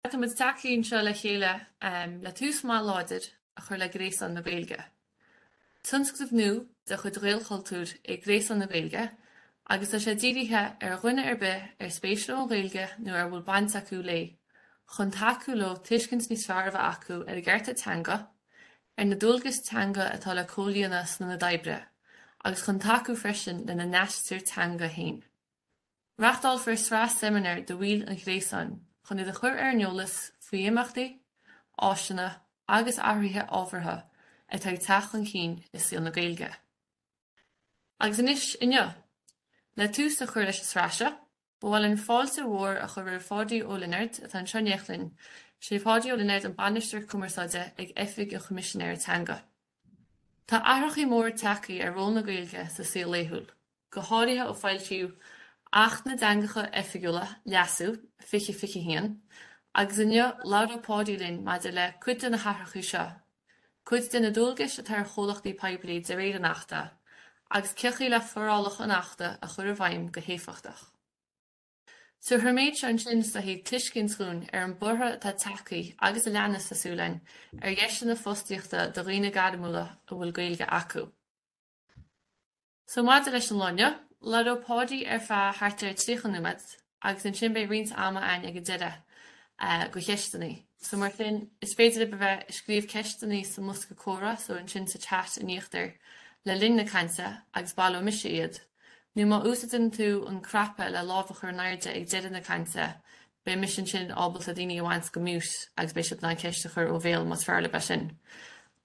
Caithfimid tacú anseo le chéile le tús maith láidir a chur le Gréasán na Gaeilge. Tionscnamh nua de chuid Ghaelchultúir é Gréasán na Gaeilge agus tá sé dírithe ar dhuine ar bith ar spéis leo an Ghaeilge nó a bhfuil baint acu léi chun tacú leo tuiscint níos fearr a bheith acu ar a gcearta teanga, ar na dualgais teanga atá le comhlíonadh san ionad oibre agus chun tacú freisin lena n-aistear teanga féin. Reáchtálfar sraith seimineár do bhaill an Ghréasáin chun iad a chur ar an eolas faoi imeachtaí, áiseanna agus athruithe ábhartha atá ag teacht chun cinn i saol na Gaeilge. Agus anois inniu, le tús a chur leis an sraith seo, ba mhaith linn fáilte mhór a chur roimh Pháidí Ó Lionáird atá anseo in éineacht linn. Sé Páidí Ó Lionáird, an Bainisteoir Cumarsáide ag Oifig an Choimisinéara Teanga. Tá athrachaí mór ag teacht ar ról na Gaeilge sa saol laethúil. go háirithe ó foilsíodh Acht na dTeangacha Oifigiúla, Leasú, 2021, agus inniu labhróidh Páidí linn maidir le cuid de na hathrachaí seo, cuid de na dualgais atá ar chomhlachtaí poiblí de réir an Achta, agus cé chaoi le forálacha an Achta a chur i bhfeidhm go héifeachtach. So tríd an méid seo ansin is soiléire tuiscint dhúinn ar an borradh atá ag teacht agus a leanas tá súil againn ar dheiseanna fostaíochta do dhaoine gairmiúla a bhfuil Gaeilge acu. So maidir leis an lá inniu, labhróidh Páidí ar feadh thart ar 30 nóiméad agus ansin beidh roinnt ama ann ag an deireadh go cheisteannaí. So mar sin, is féidir libh a bheith ag scríobh ceisteannaí sa mbosca comhrá so ansin sa chat in íochtar le linn na cainte agus baileoidh mise iad, nó má úsaideann tú an cnaipe le lámh a chur in airde ag deireadh na cainte beidh mise ansin ábalta daoine a bhaint go mute agus beidh siad in ann ceist a chur ó bhéal más fearr libh é sin.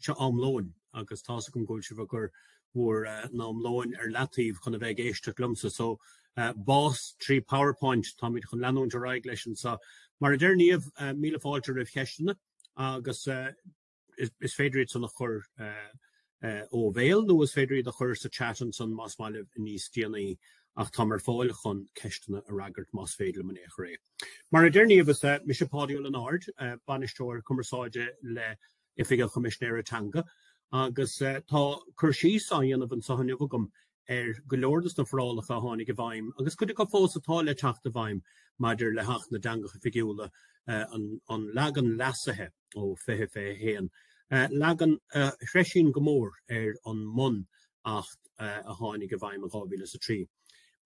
seo am lóin agus tá's agam go bhfuil sibh ag cur bhur n-am lóin ar leataobh chun a bheith ag éisteacht liomsa, so, bás trí Powerpoint, táimid chun leanúint ar aghaidh leis anseo. Mar a deir Niamh, míle fáilte roimh cheisteanna agus is féidir iad san a chur ó bhéal nó is féidir iad a chur sa chat ansan más maith libh níos déanaí ach táim ar fáil chun ceisteanna a fhreagairt más féidir liom in aon chor é. Mar a deir Niamh, is mise Páidí Ó Lionáird, Bainisteoir Cumarsáide le. Oifig an Choimisinéara Teanga agus tá cur síos á dhéanamh anseo inniu agam ar go leor des na forálacha a tháinig i bhfeidhm agus cuid acu fós atá le teacht i bhfeidhm maidir le hAcht na dTeangacha Oifigiúla, an leagan leasaithe ó 2021, leagan a threisíonn go mór ar an mbun Acht a tháinig i bhfeidhm in 2003.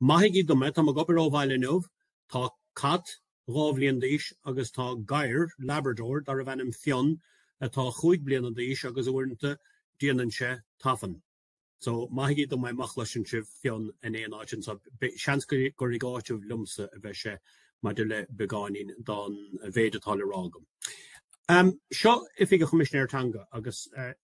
Maithigí dom é, táim ag obair ó bhaile inniu, tá cat dhá bhliain d'aois agus tá gadhar Labrador darbh ainm Fionn atá cúig bliana d'aois agus uaireanta déanann sé tafann. So, maithigí dom é má chloiseann sibh Fionn in aon áit anseo, seans gur ag áiteamh liomsa a bheidh sé maidir le beagáinín don mhéid atá le rá agam. Seo Oifig an Choimisinéara Teanga agus.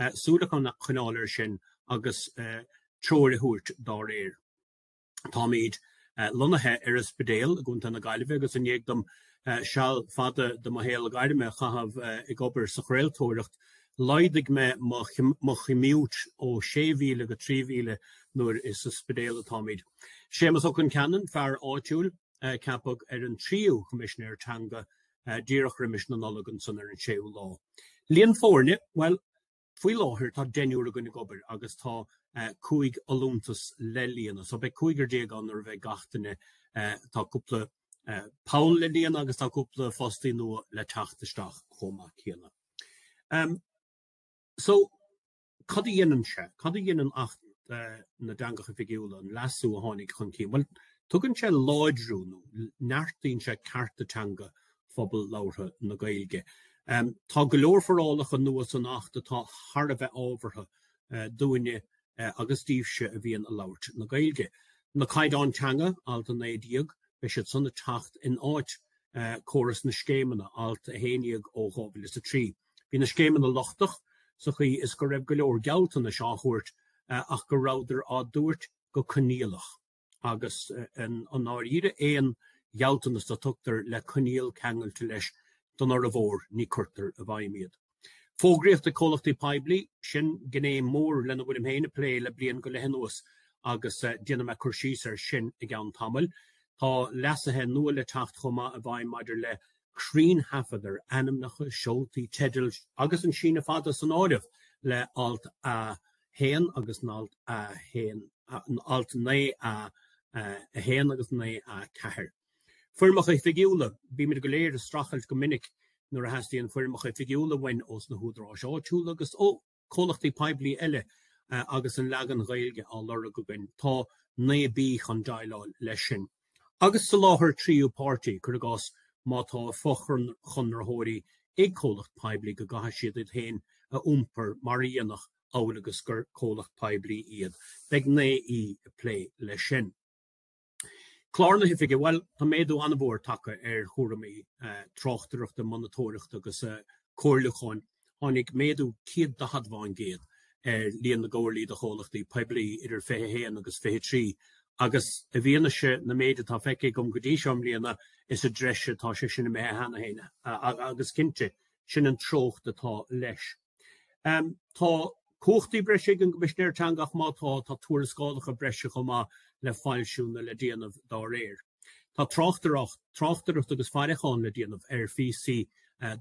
súil a choinneáil air sin agus treoir a thabhairt dá réir. Táimid lonnaithe ar an Spidéal i gContae na Gaillimhe agus i ndiaidh dom seal fada de mo shaol gairme a chaitheamh ag obair sa chraoltóireacht, laghdaigh mé mo chommute ó 6,000 go 3,000 mar is sa Spidéal atáimid. Séamas Ó Concheanainn, fear áitiúil, a ceapadh ar an tríú Coimisinéir Teanga díreach roimis na Nollag ansan ar an séú lá. Líon foirne, bhuel faoi láthair tá deichniúr againne ag obair agus tá cúig fholúntas le líonadh so beidh cúigear déag ann nuair a bheidh gach duine, tá cúpla poll le líonadh agus tá cúpla fostaí nua le teacht isteach chomh maith céanna. So. Cad a dhéanann sé? Cad a dhéanann Acht na dTeangacha Oifigiúla, an leasú a tháinig chun cinn? Bhuel, tugann sé láidriú nó neartaíonn sé cearta teanga phobal labhartha na Gaeilge. Tá go leor forálacha nua san Acht atá thar a bheith ábhartha dúinne agus daoibhse a bhíonn ag labhairt na Gaeilge. Na Caighdeáin Teanga, Alt 19, beidh siad san ag teacht in áit chóras na scéimeanna, Alt 11 ó 2003. Bhí na scéimeanna lochtach sa chaoi is go raibh go leor gealltanais á dtabhairt ach go rabhadar á dtabhairt go coinníollach agus i ndáiríre aon ghealltanas a tugtar le coinníoll ceangailte leis don fhormhór ní cuirtear i bhfeidhm iad. Fógraíocht ag comhlachtaí poiblí, sin gné mhór lena bhfuilim fhéin ag plé le bliain go leith anuas agus déanfaidh mé cur síos air sin i gceann tamaill. Tá leasaithe nua le teacht chomh maith i bhfeidhm maidir le cruinntaifead ar ainmneacha, seoltaí, teidil agus an síneadh fada san áireamh le halt 1 agus n-alt 1, n-alt 9A 1 agus 9A 4. Foirmeacha oifigiúla, bímid go léir ag streachailt go minic nuair a theastaíonn foirmeacha oifigiúla uainn ós na hÚdaráis Áitiúla agus ó. comhlachtaí poiblí eile agus an leagan Gaeilge á lorg againn, tá 9B chun déileáil leis sin. Agus soláthar tríú páirtí, cuir i gcás má tá fochonraitheoirí ag comhlacht poiblí go gcaithfidh siad iad féin a iompar mar a dhéanfadh amhail agus gur comhlacht poiblí iad, beidh 9E ag plé leis sin. Clár na hOifige, bhuel, tá méadú an-mhór tagtha ar chúraimí tráchtaireachta, monatóireachta agus comhairliúcháin. Tháinig méadú 140 fán gcéad ar líon na gcomhairlí do chomhlachtaí poiblí idir 21 agus 23 agus i bhfianaise na méide atá feicthe agam go dtí seo i mbliana, is i dtreise atá sé sin imithe cheana féin agus, cinnte, sin an treocht atá leis. Tá cumhachtaí breise ag an gCoimisinéir Teanga ach má tá, tá tuarascálacha breise chomh maith le foilsiú nó le déanamh dá réir. Tá tráchtaireacht, tráchtaireacht agus faireachán le déanamh ar phíosaí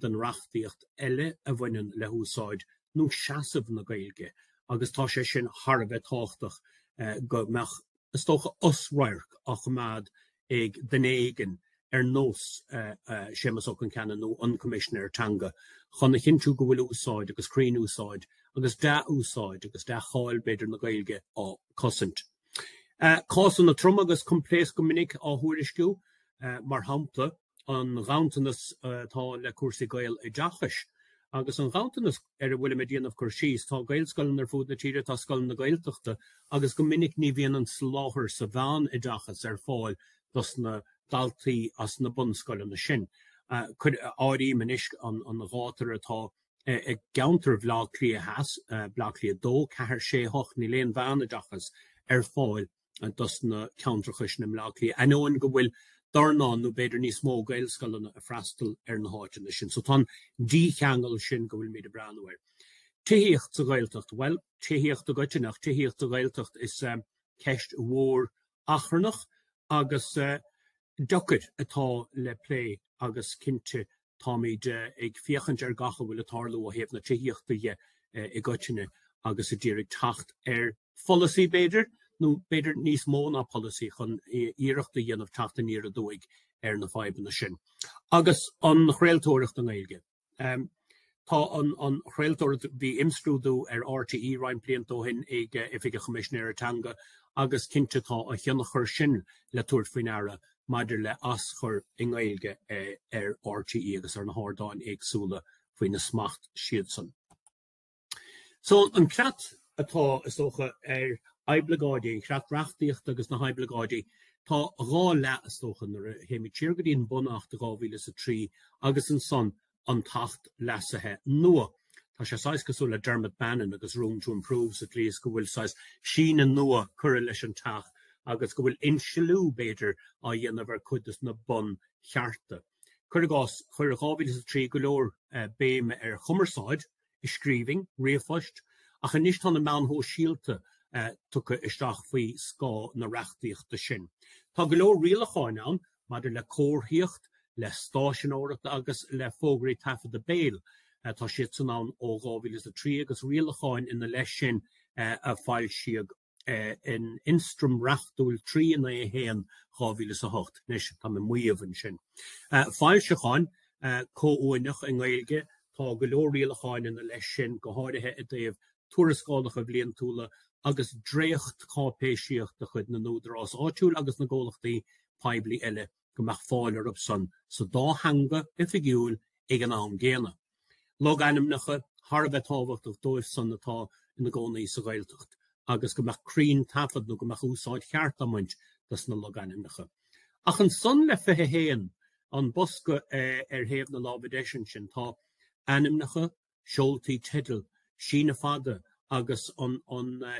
den reachtaíocht eile a bhaineann le húsáid nó seasamh na Gaeilge agus tá sé sin thar a bheith tábhachtach go mbeadh, is dócha, osradharc á choimeád ag duine éigin ar nós Séamas Ó Concheanainn nó an Coimisinéir Teanga chun a chinntiú go bhfuil úsáid agus cruinnúsáid agus dea-úsáid agus dea-cháil b'fhéidir na Gaeilge á cosaint. Cásanna troma agus coimpléasc go minic á thuairisciú, mar shampla, an ghanntanas atá le cúrsaí Gaeloideachais agus an ghanntanas ar a bhfuilim ag déanamh cur síos. Tá Gaelscoileanna ar fud na tíre, tá scoileanna Gaeltachta agus go minic ní bhíonn an soláthar sa mheánoideachas ar fáil dos na daltaí as na bunscoileanna sin. Cuir, áirím anois an ghátar atá i gceantar Bhleá Cliath Theas, Bleá Cliath 2, 4, 6, 8, níl aon mheánoideachas ar fáil dos na ceantracha sin i mBleá Cliath, ainneoin go bhfuil dornán nó b'fhéidir níos mó Gaelscoileanna ag freastal ar na háiteanna sin. So tá an dícheangal sin go bhfuilmíd ag breathnú air. Tithíocht sa Ghaeltacht, bhuel, tithíocht i gcoitinne ach tithíocht sa Ghaeltacht is eh ceist mhór achrannach agus eh deocair atá le plé agus cinnte táimid eh, ag féachaint ar gach a bhfuil ag tarlú ó thaobh na tithíochta dhe eh, i gcoitinne agus a d'iarraidh teacht ar pholasaí b'fhéidir, nó b'fhéidir níos mó ná polasaí, chun iarracht a dhéanamh teacht aniar aduaidh ar na fadhbanna sin. Agus an chraoltóireacht i nGaeilge. Tá an chraoltóireacht, bhí imscrúdú ar RTÉ roinnt blianta ó shin ag Oifig an Choimisinéara Teanga agus cinnte tá a thionchar sin le tabhairt faoi ndeara maidir le aschur i nGaeilge ar RTÉ agus ar na hardáin éagsúla faoina smacht siadsan. So an creat atá, is dócha, ar oibleagáidí, an creat reachtaíochta agus na hoibleagáidí, tá dhá leath, is dócha, nuair a théimid siar go dtí an Bun-Acht de 2003 agus ansan an tAcht leasaithe nua. Tá sé saghas cosúil le Dermot Bannon agus Room to Improve sa tslí is go bhfuil saghas síneadh nua curtha leis an teach agus go bhfuil insliú, b'fhéidir, á dhéanamh ar chuid dos na bunchearta. Cuir i gcás, chuir 2003 go leor béime ar chumarsáid, i scríbhinn, ríomhphoist, ach anois tá na meáin shóisialta tugtha isteach faoi scáth na reachtaíochta sin. Tá go leor rialacháin ann maidir le comharthaíocht, le stáiseanóireacht agus le fógraí taifeadta béil. Tá siadsan ann ó 2003 agus rialacháin ina leith sin a foilsíodh in Ionstraim Reachtúil 391/2008, anois tá mé ag maíomh ansin, foilseacháin comhuaineach i nGaeilge, tá go leor rialacháin ina leith sin, go háirithe i dtaobh tuarascálacha bliantúla agus dréachtcháipéisíocht de chuid na n-údarás áitiúil agus na gcomhlachtaí poiblí eile go mbeadh fáil orthu san sa dá theanga oifigiúil ag an am gcéanna. Logainmneacha thar a bheith tábhachtach dóibh san atá ina gcónaí sa Ghaeltacht agus go mbeadh cruinn taifead nó go mbeadh úsáid cheart á mbaint dos na logainmneacha. Ach ansan le 21, an bosca ar thaobh na láimhe deis ansin, tá ainmneacha, seoltaí teidil, síneadh fada agus an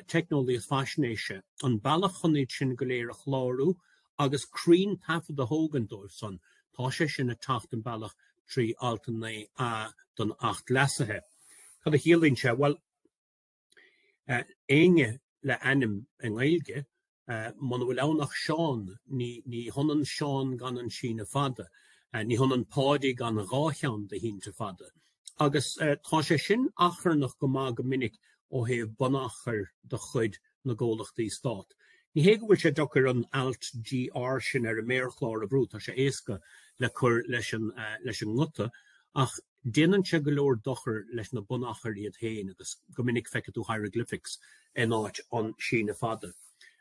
teicneolaíocht faisnéise, an bealach chun iad sin go léir a chlárú agus cruinn taifead a thógaint dóibh san, tá sé sin ag teacht an bealach trí Alt 9A den Acht leasaithe. Cad a chiallaíonn sé? Bhuel. Éinne le ainm i nGaeilge? Muna bhfuil ann ach Seán, ní hionann Seán gan an síneadh fada, ní hionann Páidí gan dhá cheann de shínte fada. Agus tá sé sin achrannach go maith go minic ó thaobh bunachair de chuid na gcomhlachtaí stát. Ní hé go bhfuil sé deocair an alt GR sin ar an méarchlár a bhrú, tá sé éasca le cur leis an nguta, ach, Déanann sé go leor dochar leis na bunachair iad féin agus go minic feicfidh tú hieroglyphics in áit an síneadh fada.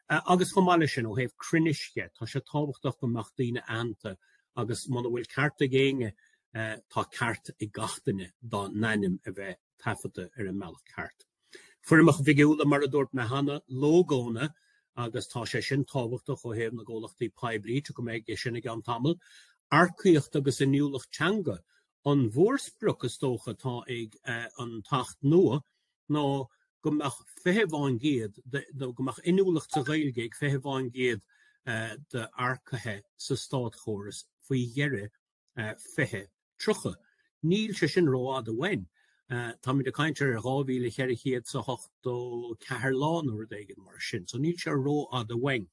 Agus chomh maith leis sin, ó thaobh cruinnis dhe, tá sé tábhachtach go mbeadh daoine aitheanta agus muna bhfuil ceart ag éinne tá ceart ag gach duine dá n-ainm a bheith taifeadta ar an mbealach ceart. Foirmeacha oifigiúla, mar a dúirt mé cheana, lógónna, agus tá sé sin tábhachtach ó thaobh na gcomhlachtaí poiblí, tiocfaidh mé air sin i gceann tamaill. Earcaíocht agus inniúlacht teanga, an mhórsprioc is dócha atá ag an tAcht nua ná go mbeadh 20%, go mbeadh inniúlacht sa Ghaeilge ag 20% d'earcaithe sa státchóras faoi dheireadh 2030. Níl sé sin rófhada uainn. Táimid ag caint ar 2484 lá nó rud éigin mar sin, so níl sé rófhada uainn.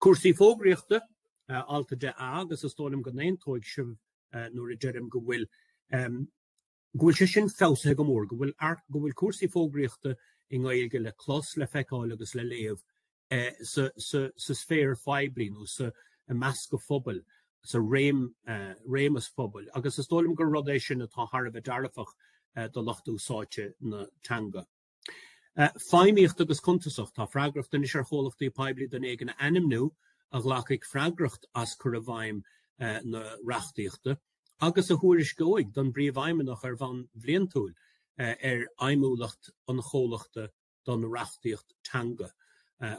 Cúrsaí fógraíochta, alt a 10A, agus is dóigh liom go n-aontóidh sibh nuair a deirim go bhfuil go bhfuil sé sin feabhsaithe go mór, go bhfuil go bhfuil cúrsaí fógraíochta i nGaeilge le clos, le feiceáil agus le léamh sa sféar phoiblí nó sa i measc an phobail, sa réimse phobail, agus is dóigh liom gur rud é sin atá thar a bheith dearfach do lucht úsáidte na teanga. Feidhmíocht agus cuntasacht, tá freagracht anois ar chomhlachtaí poiblí duine éigin a ainmniú a ghlacfaidh freagracht as cur i bhfeidhm na reachtaíochta agus a thuairisceoidh don bPríomhfheidhmeannach ar bhonn bhliantúil ar fheidhmiúlacht an chomhlachta don reachtaíocht teanga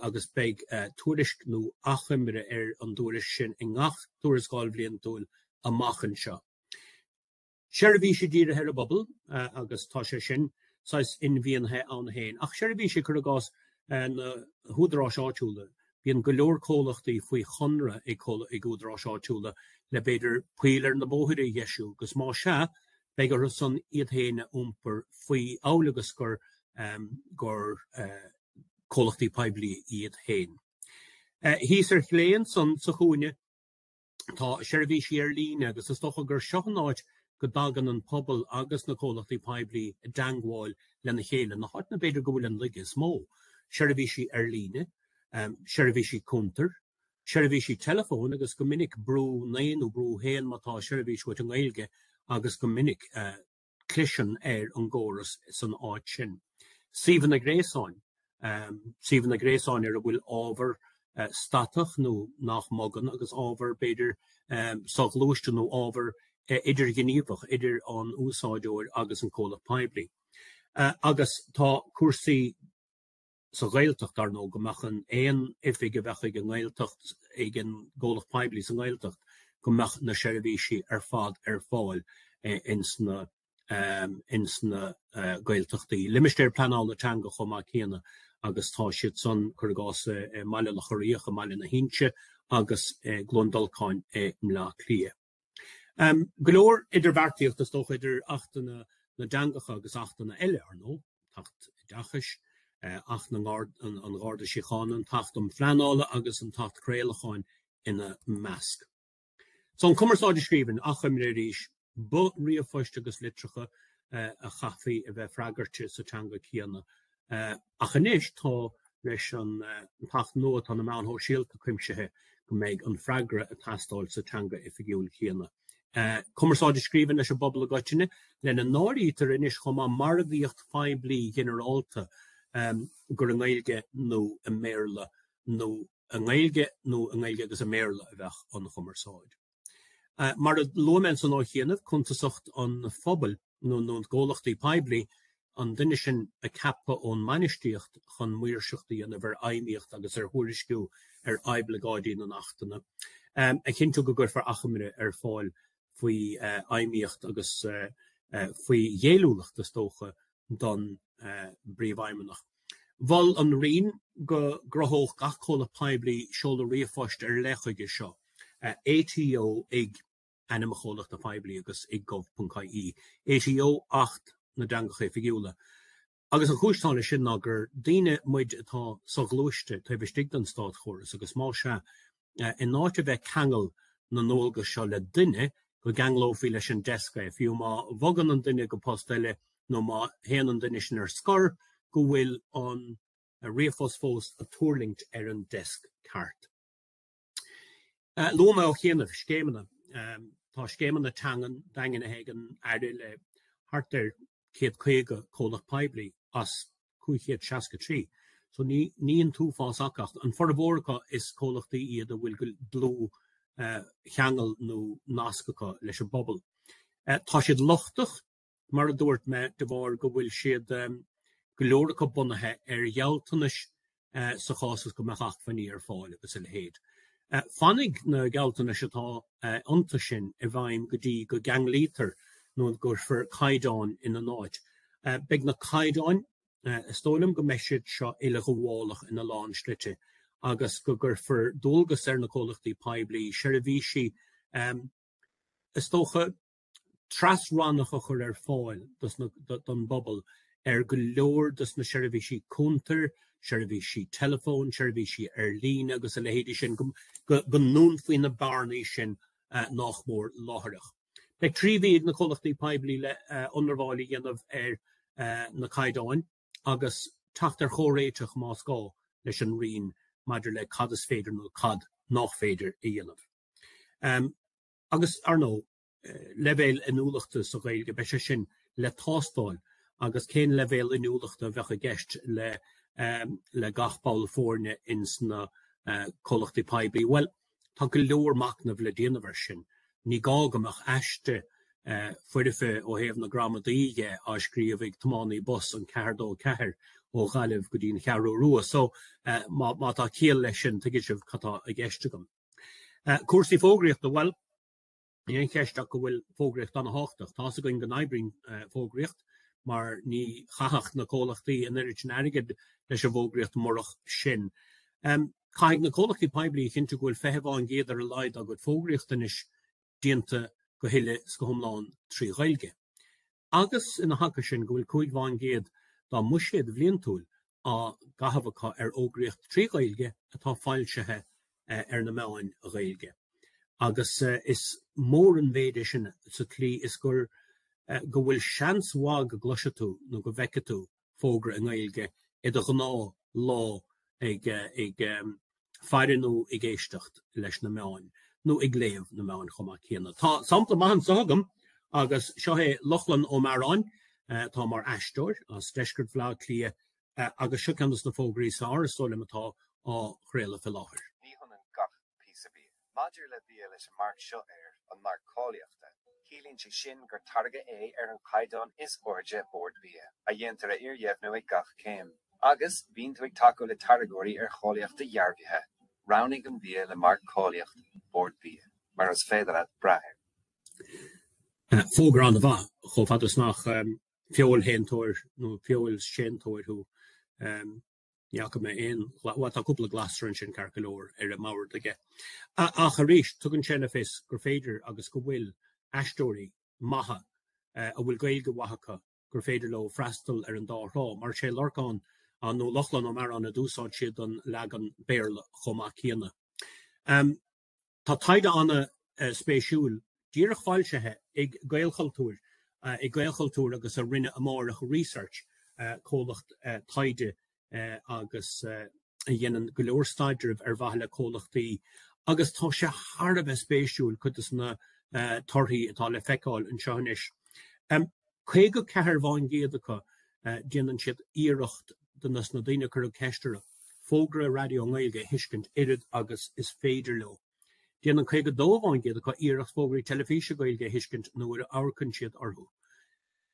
agus beidh tuairisc nó achoimre ar an dtuairisc sin i ngach tuarascáil bhliantúil amach anseo. seirbhísí dírithe ar an bpobal agus tá sé sin saghas inmhínithe ann féin. Ach seirbhísí, cur i gcás na húdaráis áitiúla, bíonn go leor comhlachtaí faoi chonradh ag údaráis áitiúla le b'fhéidir poill ar na bóithre a dheisiú agus más ea, beidh orthu san iad féin a iompar faoi amhail agus gur gur comhlachtaí poiblí iad féin. Thíos ar chlé ansan sa chúinne. tá seirbhísí ar líne agus is dócha gur seo an áit go dtagann an pobal agus na comhlachtaí poiblí i dteangmháil lena chéile, na háiteanna b'fhéidir go bhfuil an laige is mó, seirbhísí ar líne, seirbhísí cuntair, seirbhísí telefóin agus go minic brúigh a naoi nó brúigh a haon má tá seirbhís uait i nGaeilge agus go minic, cliseann ar an gcóras san áit sin. Suíomhanna gréasáin, suíomhanna gréasáin ar a bhfuil ábhar statach nó nach mbogann agus ábhar, b'fhéidir, soghluaiste nó ábhar idirghníomhach idir an úsáideoir agus an comhlacht poiblí. Agus tá cúrsaí. sa Ghaeltacht, ar ndóigh, go mbeadh an, aon oifig a bheadh ag an nGaeltacht, ag an gcomhlacht poiblí sa nGaeltacht, go mbeadh na seirbhísí ar fad ar fáil ins na, ins na Gaeltachtaí. Limistéir Pleanála Teanga chomh maith céanna agus tá siad san, cur i gcás, i mBaile Locha Riach, i mBaile na hInse agus i gCluain Dolcáin i mBleá Cliath. Um go leor idirbheartaíocht is dócha idir Acht na dTeangacha agus achtanna eile, ar ndóigh, an tAcht Oideachais, Acht na an Gharda Síochána, an tAcht um Pleanáil agus an tAcht Craolacháin ina measc. So an chumarsáid i scríbhinn, achoimre arís, ba ríomhphoist agus litreacha a chaithfí a bheith freagartha sa teanga céanna Ach anois tá leis an tAcht nua atá na meáin sóisialta cuimsithe go mbeidh an freagra ag teastáil sa teanga oifigiúil chéanna. Cumarsáid i scríbhinn leis an bpobal i gcoitinne, lena n-áirítear anois chomh maith margaíocht phoiblí ghinearálta, gur i nGaeilge nó i mBéarla nó i nGaeilge nó i nGaeilge agus i mBéarla a bheadh an chumarsáid. Mar a luaigh mé ansan ó chianaibh, cuntasacht an phobail, nó na gcomhlachtaí poiblí, an duine sin a ceapadh ón mbainistíocht chun maoirseacht a dhéanamh ar fheidhmíocht agus ar thuairisciú ar oibleagáidí na nAchtanna. A chinntiú go gcuirfear achoimre ar fáil faoi fheidhmíocht agus faoi ghéilliúlacht, is dócha, don bPríomhfheidhmeannach. Mhol an Roinn go gcruthódh gach comhlacht poiblí seoladh ríomhphoist ar leith chuige seo, ATO, ag. ainm an chomhlachta phoiblí agus ag gov ponc ie, ATO, Acht na dTeangacha Oifigiúla, agus an chúis atá leis sin ná gur daoine muid atá so-ghluaiste taobh istigh den státchóras agus mar sé, in áit a bheith ag ceangal na ndualgas seo le duine, go gceanglófaí leis an deasc é, fiú má bhogann an duine go post eile nó má théann an duine sin ar scor, go bhfuil an ríomhphost fós ag tuirlingt ar an deasc ceart. Luaigh mé ó chianaibh scéimeanna, Tá scéimeanna teangan daingnithe ag an Aire le thart ar 150 comhlacht poiblí as 563 so ní an t-uafás acu ach an formhór acu is comhlachtaí iad a bhfuil dlúthcheangal nó nasc acu leis an bpobal. Tá siad lochtach mar a dúirt mé, de bharr go bhfuil siad, go leor acu, bunaithe ar ghealltanais sa chás is go mbeadh acmhainní ar fáil agus a leithéid. Fanfaidh na gealltanais atá iontu sin i bhfeidhm go dtí go gceanglaítear nó go gcuirfear caighdeáin ina n-áit. Beidh na caighdeáin, is dócha liom go mbeidh siad seo uileghabhálach ina lán slite agus go gcuirfear dualgas ar na comhlachtaí poiblí seirbhísí, is dócha, tras-rannach a chur ar fáil don bpobal ar go leor dos na seirbhísí cuntair, seirbhísí teileafóin, seirbhísí ar líne agus a leithéidí sin, go ndúnfaí na bearnaí sin nach mór láithreach. Beidh trí mhí ag na comhlachtaí poiblí le hionramháil a dhéanamh ar na caighdeáin agus teacht ar chomhréiteach, más gá, leis an Roinn maidir le cad is féidir nó cad nach féidir a dhéanamh. Agus, ar ndóigh, leibhéal inniúlachta sa Ghaeilge, beidh sé sin le tástáil agus cén leibhéal inniúlachta a bheadh i gceist le gach ball foirne ins na comhlachtaí poiblí. Bhuel, tá go leor machnaimh le déanamh air sin. Ní gá go mbeadh aiste foirfe ó thaobh na gramadaí dhe á scríobh ag tiománaí bus an C204 ó Ghaillimh go dtí an Cheathrú Rua. So, má tá ciall leis sin, tuigfidh sibh cad tá i gceist agam. Cúrsaí fógraíochta, bhuel, níl aon cheist ach go bhfuil fógraíocht ana-thábhachtach. Tá's againn go n-oibríonn fógraíocht mar ní chaithfeadh na comhlachtaí an oiread sin airgid leis an bhfógraíocht murach sin. Caithfidh na comhlachtaí poiblí a chinntiú go bhfuil fiche fán gcéad ar a laghad dá gcuid fógraíocht anois déanta go huile is go hiomlán trí Ghaeilge, agus, ina aice sin, go bhfuil cúig fán gcéad dá mbuiséad bhliantúil á gcaitheamh acu ar fhógraíocht trí Ghaeilge atá foilsithe ar na meáin Ghaeilge, agus is mór an mhéid é sin sa tslí is gur go bhfuil seans mhaith go gcloisfidh tú nó go bhfeicfidh tú fógra i nGaeilge i do ghnáth lá ag ag faire nó ag éisteacht leis na meáin nó ag léamh na meáin chomh maith céanna. Tá sampla maith anseo agam agus seo é Lochlann Ó Mearáin atá mar aisteoir as deisceart Bhaile Átha Cliath agus seo ceann dos na fógraí is fearr is dóigh liom atá á chraoladh fé láthair. Ní hionann gach píosa bia. Maidir le bia leis an marc seo air, an Marc Cáilíochta, ciallaíonn sé sin gur táirgeadh é ar an chaighdeán is airde de Bord Bia, a dhéantar a fhíordheimhniú ag gach céim. Agus bíonn tú ag tacú le táirgeoirí ar cháilíocht dhearbhaithe, roghnaigh an bia le marc cáilíocht Bord Bia, mar is féidir leat brath air. Fógra an-mhaith, chomh fada is nach feoilshéantóir nó feoilséantóir thú. Ní fhaca mé aon, bhuel tá cúpla glasra ansin ceart go leor ar an mbord aige ach arís tugann sé le fios gur féidir agus go bhfuil aisteoirí maithe a bhfuil Gaeilge mhaith acu, gur féidir leo freastal ar an dá thrá. Mar is é Lorcán nó Lochlann Ó Mearáin a d'úsáid siad don leagan Béarla chomh maith céanna. Tá taighde an-spéisiúil díreach foilsithe ag Gaelchultúr, ag Gaelchultúr agus a rinne Amárach Research, comhlacht taighde é agus a dhéanann go leor staidrimh ar mhaithe le comhlachtaí, agus tá sé thar a bheith spéisiúil cuid de na torthaí atá le feiceáil anseo anois. 54 faoin gcéad acu, déanann siad iarracht, dos na daoine a cuireadh ceist orthu, fógra raidió i nGaeilge a thuiscint oiread agus is féidir leo. Déanann 52 faoin gcéad acu iarracht fógraí teilifíse Gaeilge a thuiscint nuair a amharcann siad orthu.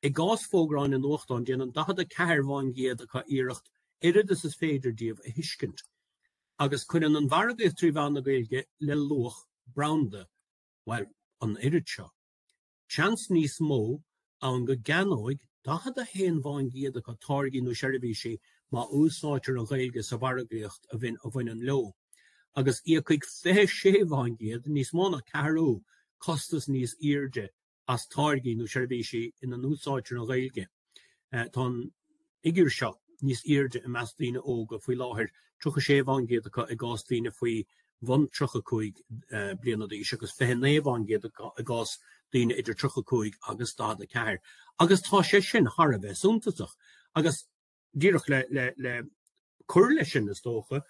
I gcás fógraí in nuachtáin, déanann 44 faoin gcéad acu iarracht oiread agus is féidir díobh a thuiscint. Agus cuireann an mhargaíocht trí mheán na Gaeilge le luach branda, bhuel, an oiread seo. seans níos mó ann go gceannóidh 41 faoin gcéad acu táirgí nó seirbhísí má úsáidtear an Ghaeilge sa mhargaíocht a bhaineann leo, agus íocfaidh 26 faoin gcéad, níos mó ná ceathrú, costas níos airde as táirgí nó seirbhísí ina n-úsáidtear an Ghaeilge. Tá an figiúr seo níos airde i measc daoine óga faoi láthair, 36% acu i gcás daoine faoi bhun 35 bliana d'aois agus 29% acu i gcás daoine idir 35 agus 44, agus tá sé sin thar a bheith suntasach. Agus díreach le cur leis sin, is dócha,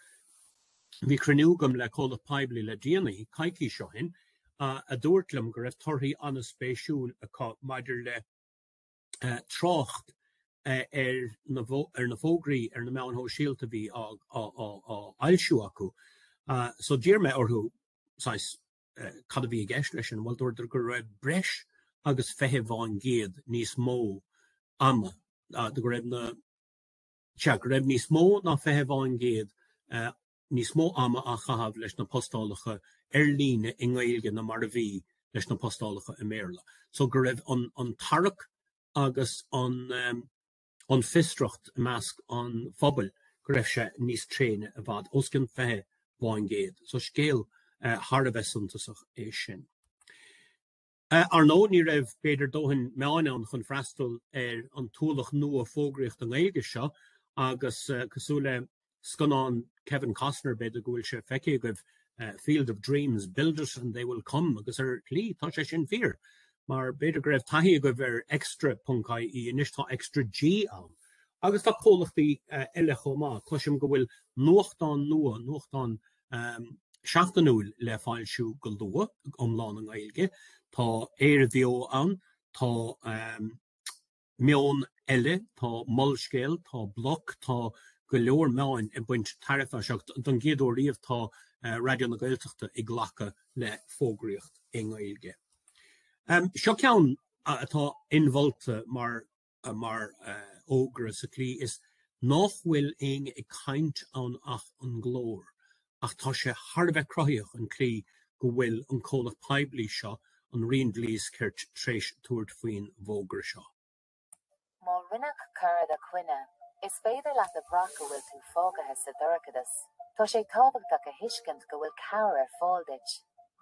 bhí cruinniú agam le comhlacht poiblí le déanaí, coicís ó shin, a dúirt liom go raibh torthaí an-spéisiúil acu maidir le trácht ar na fógraí ar na meáin shóisialta a bhí á fhoilsiú acu. So d'iarr mé orthu saghas cad a bhí i gceist leis sin. Bhuel dúradar go raibh breis agus 20% níos mó ama, go raibh na, sea, go raibh níos mó ná 20% níos mó ama á chaitheamh leis na postálacha ar líne i nGaeilge ná mar a bhí leis na postálacha i mBéarla. So go raibh an an tarrac agus an ehm an fiosracht i measc an phobail go raibh sé níos tréine i bhfad os cionn 20 faoin gcéad. So scéal eh, thar a bheith suntasach é sin. Ar ndóigh, ní raibh, b'fhéidir, dóthain meáin ann chun freastal ar an t-ualach nua fógraíochta i nGaeilge seo agus, cosúil le scannán Kevin Costner, b'fhéidir go bhfuil sé feicthe agaibh, Field of Dreams, Build It and They Will Come agus ar shlí tá sé sin fíor mar b'fhéidir go raibh taithí agaibh ar extra ponc ie anois tá ExtraG ann. Agus tá comhlachtaí eile chomh maith, cloisim go bhfuil nuachtán nua, nuachtán a seachtainiúil le foilsiú go luath iomlán i nGaeilge. Tá ÉireBheo ann, tá Meon Eile, tá Molscéal, tá Bloc, tá go leor meáin ag baint tairbhe as seo. Don gcéad uair riamh tá Raidió na Gaeltachta ag glacadh le fógraíocht i nGaeilge. Sin ceann atá inmholta mar mar fhógra sa tslí is nách bhfuil éinne ag caint ann ach an glór, ach tá sé thar a bheith cruthaitheach an tslí go bhfuil an comhlacht poiblí seo, an Roinn Dlí is Cirt, tréis tabhairt faoin bhfógra seo. Má rinneadh coir i do choinne, is féidir leat a bhraith go bhfuil tú fágaithe sa dorchadas. Tá sé tábhachtach a thuiscint go bhfuil cabhair ar fáil duit.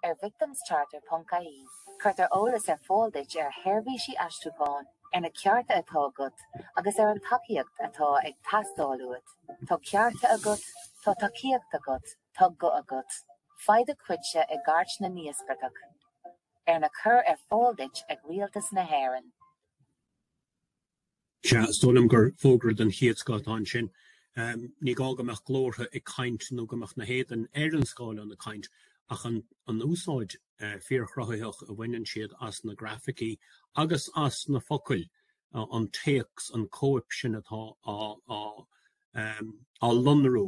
Ar victimscharter.ie cuirtear eolas ar fáil duit ar sheirbhísí aistriúcháin, ar na cearta atá agat agus ar an tacaíocht atá ag teastáil uait. Tá cearta agat, tá tacaíocht agat, tá guth agat. Faigh do chuidse i gCairt na nÍospartach, arna cur ar fáil duit ag Rialtas na hÉireann. Sea, is dóigh liom gur fógra den chéad scoth atá ansin. Ní gá go mbeadh glórtha ag caint nó go mbeadh na héadain ar an scáileán ag caint ach an úsáid fíorchruthaitheach a bhaineann siad as na grafaicí agus as na focail, an téacs, an chóip sin atá á lonrú.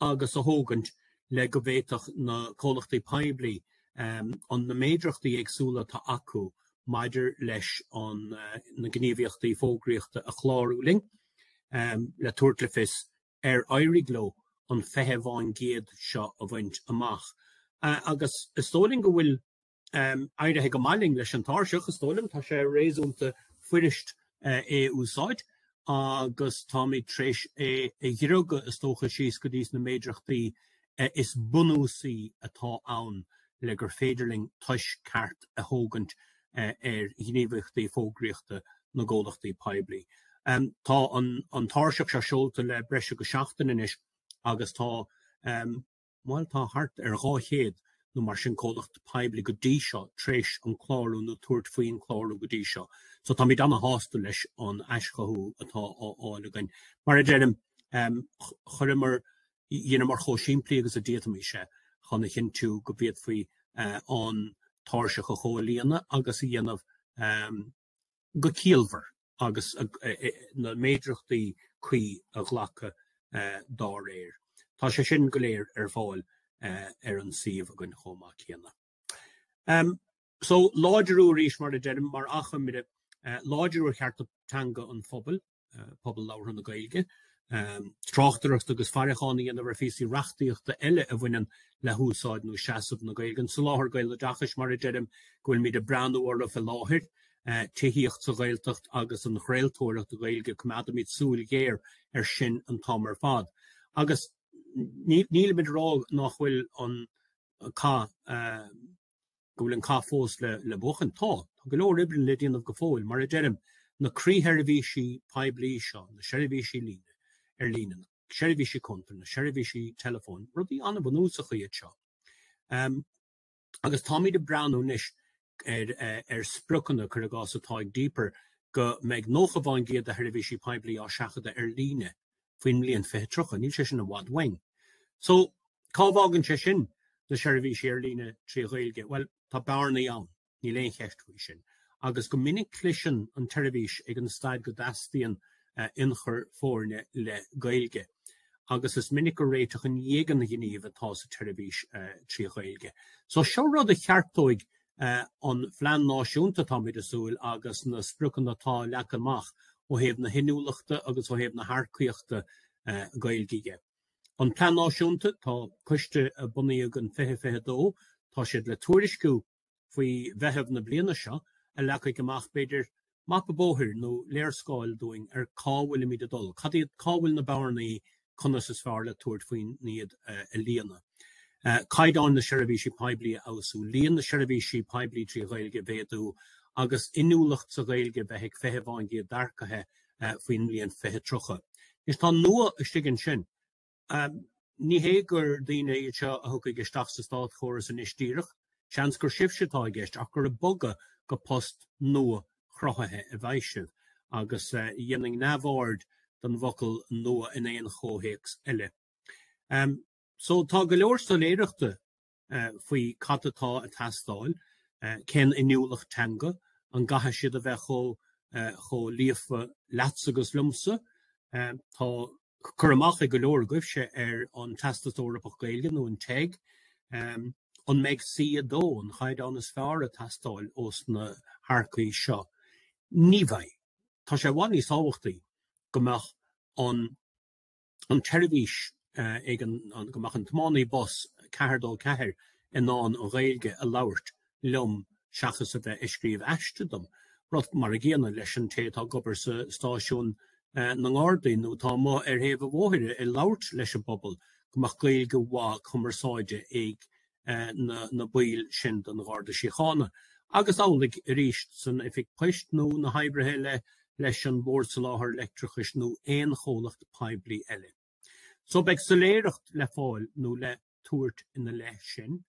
agus a thógaint le go bhféadfadh na comhlachtaí poiblí an na méadrachtaí éagsúla atá acu maidir leis an na gníomhaíochtaí fógraíochta a chlárú linn le tabhairt le fios ar éirigh leo an 20% seo a bhaint amach agus is dóigh linn go bhfuil um, éirithe go maith linn leis an tairseach, is dóigh liom, tá sé réasúnta fuirist uh, é úsáid agus táimid tréis é a dhruileadh is dócha síos go dtí sna méadrachtaí uh, is bunúsaí atá ann le gur féidir linn tomhas ceart a thógaint uh, ar ghníomhaíochtaí fógraíochta na gcomhlachtaí poiblí. Um, tá an, an tairseach seo seolta le breis agus seachtain anois agus tá um, Tá thart ar 200 nó mar sin comhlacht poiblí go dtí seo tréis an clárú nó tabhairt faoin chlárú go dtí seo so táimid an-sásta leis an aischothú atá á fháil againn. Mar a deirim, chuireamar, dheineamar chomh simplí agus a d'fhéadfaimis é chun a chinntiú go bhféadfaí an tairseach a chomhlíonadh agus a dhéanamh. go ciallmhar agus na méadrachtaí cuí a ghlacadh dá réir. Tá sé sin go léir ar fáil ar an suíomh againn chomh maith céanna. So láidriú arís mar a deirim, mar achoimre, láidriú ar chearta teanga an phobail, pobal labhartha na Gaeilge, tráchtaireacht agus faireachán a dhéanamh ar phíosaí reachtaíochta eile a bhaineann le húsáid nó seasamh na Gaeilge, an soláthar gaeloideachais, mar a deirim, go bhfuilimid ag breathnú orthu faoi láthair, tithíocht sa Ghaeltacht agus an chraoltóireacht Ghaeilge, coimeádaimid súil ghéar air sin an t-am ar fad. Agus nílimid ag rá nách bhfuil an cath go bhfuil an cath fós le buachan. Tá. Tá go leor oibre le déanamh go fóill. Mar a deirim, na croísheirbhísí poiblí seo, na seirbhísí ar líne, na seirbhísí cuntar, na seirbhísí teileafóin, rudaí an-bhunúsacha iad seo. Agus táimid ag breathnú anois ar spriocanna, cuir i gcás, atá ag DPER go mbeidh 90% de sheirbhísí poiblí á seachadadh ar líne. faoin mbliain 2030. Níl sé sin i bhfad uainn. So, cá bhfágann sé sin na seirbhísí ar líne trí Ghaeilge? Bhuel, tá bearnaí ann, níl aon cheist faoi sin, agus go minic cliseann an tseirbhís ag an staid go dteastaíonn ionchur foirne le Gaeilge agus is minic gur réiteach i ndéidh an ghnímh atá sa tseirbhís trí Ghaeilge. So, seo rud a cheartóidh an Plean Náisiúnta, táimid ag súil, agus na spriocanna atá leagtha amach ó thaobh na hinniúlachta agus ó thaobh na hearcaíochta Gaeilge dhe. An Plean Náisiúnta, tá coiste a bunaíodh in 2022, tá siad le tuairisciú faoi Mheitheamh na bliana seo, a leagfaidh amach, b'fhéidir, mapa bóthair nó léarscáil dúinn ar cá bhfuilimid ag dul, cad iad, cá bhfuil na bearnaí, conas is fearr le tabhairt faoin iad a líonadh. Caighdeáin na seirbhísí poiblí a fheabhsú, líon na seirbhísí poiblí trí Ghaeilge a mhéadú agus inniúlacht sa Ghaeilge bheith ag 20% d'earcaithe faoin mbliain 2030. Anois tá an nua istigh ansin. Ní hé gur daoine iad seo a thiocfaidh isteach sa státchóras anois díreach, seans gur sibhse atá i gceist, ach gur ag bogadh go post nua-chruthaithe a bheidh sibh, agus dhéanfainn neamhaird den bhfocal 'nua' in aon chomhthéacs eile. Só, tá go leor soiléireachta faoi cad atá a teastáil, cén inniúlacht teanga, an gcaithfidh siad a bheith chomh líofa leatsa agus liomsa, tá cur amach ag go leor agaibhse ar an Teastas Eorpach Gaeilge nó an TEG, an mbeidh C2, an chaighdeán is fearr, a teastáil ós na hearcaigh seo. Ní bheidh. Tá sé i bhfad níos tábhachtaí go mbeadh an. an tseirbhís ag an go mbeadh an tiománaí bus 424 in ann an Ghaeilge a labhairt liom seachas a bheith ag scríobh aiste dom, rud mar a gcéanna leis an té atá ag obair sa stáisiún na nGardaí nó atá amuigh ar thaobh an bhóthair ag labhairt leis an bpobal, go mbeadh Gaeilge mhaith cumarsáide ag na baill sin den Gharda Síochána agus amhlaidh arís san Oifig Poist nó na hoibrithe eile leis an Bord Soláthair Leictreachais nó aon chomhlacht poiblí eile so. Beidh soiléireacht le fáil nó le tabhairt ina leith sin.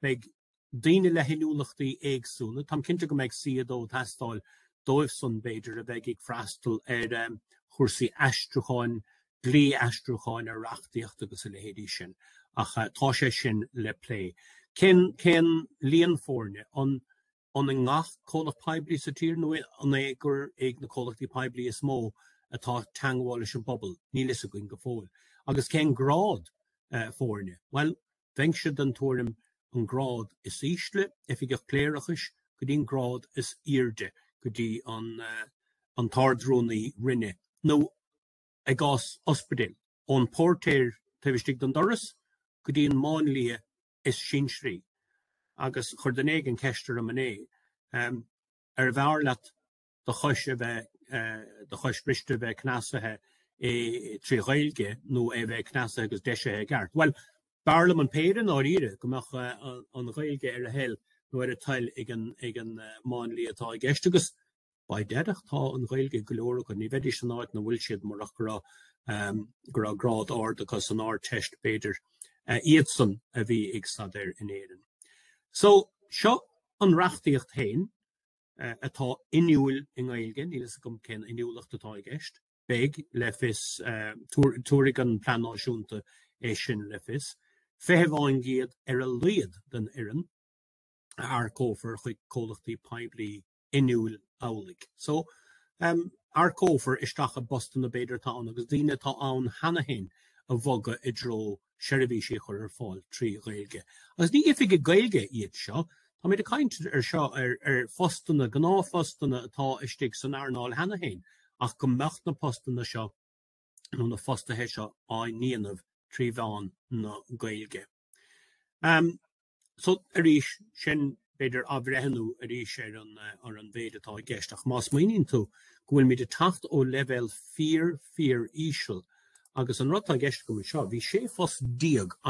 Beidh daoine le hinniúlachtaí éagsúla. Táim cinnte go mbeidh C2 ag teastáil dóibhsan b'fhéidir a bheidh ag freastal ar chúrsaí aistriúcháin dlí aistriúcháin ar reachtaíocht agus a leithéidí sin ach tá sé sin le plé. Cén, cén líon foirne? An i ngach comhlacht poiblí sa tír nó an é gur ag na comhlachtaí poiblí is mó atá teangmháil leis an bpobal? Níl fhios againn go fóill. Agus cén grád foirne? Bhuel, bheinnse den tuairim an grád is ísle, Oifigeach Cléireachais, go dtí an grád is airde, go dtí an, an tArd-Rúnaí Roinne nó i gcás ospidéal, ón bpóirtéir taobh istigh don doras go dtí an máinlia is sinsearaí, agus chuir duine éigin ceist orm inné, ar bhfearr leat do chois a bheith, do chois bhriste a bheith cneasaithe i, trí Ghaeilge, nó é a bheith cneasaithe agus deisithe i gceart? Bhuel, b'fhearr liom an péire, i ndáiríre, go mbeadh an Ghaeilge ar a thoil nó ar a toil ag an, ag an máinlia atá i gceist agus, beidh, déarfá tá an Ghaeilge ag go leor acu, ní bheidís san áit ina bhfuil siad murach go raibh go raibh grád ard acu san Ardteist, b'fhéidir, iadsan a bhí ag staidéar in Éirinn. So, seo an reachtaíocht féin atá inniúil i nGaeilge, níl a fhios agam cén inniúlacht atá i gceist, beidh le fios, tabharfaidh an Plean Náisiúnta é sin le fios. Fiche fán gcéad ar a laghad den fhoireann a earcófar chuig comhlachtaí poiblí inniúil amhlaidh. So, earcófar isteach i bpostanna b'fhéidir atá ann agus daoine atá ann cheana féin a bhogadh i dtreo seirbhísí a chur ar fáil trí Ghaeilge. Agus ní oifigigh Gaeilge iad seo, táimid ag caint anseo ar phostanna, gnáthphostanna atá istigh san earnáil cheana féin ach go mbeadh na postanna seo nó na fostaithe seo á ndéanamh trí mheán na Gaeilge. Um, so, arís, sin b'fhéidir athbhreithniú arís ar an, ar an mhéid atá i gceist, ach má smaoiníonn tú go bhfuilmid ag teacht ó leibhéal fíor, fíor íseal, agus an rud atá i gceist agam anseo, bhí 16 phost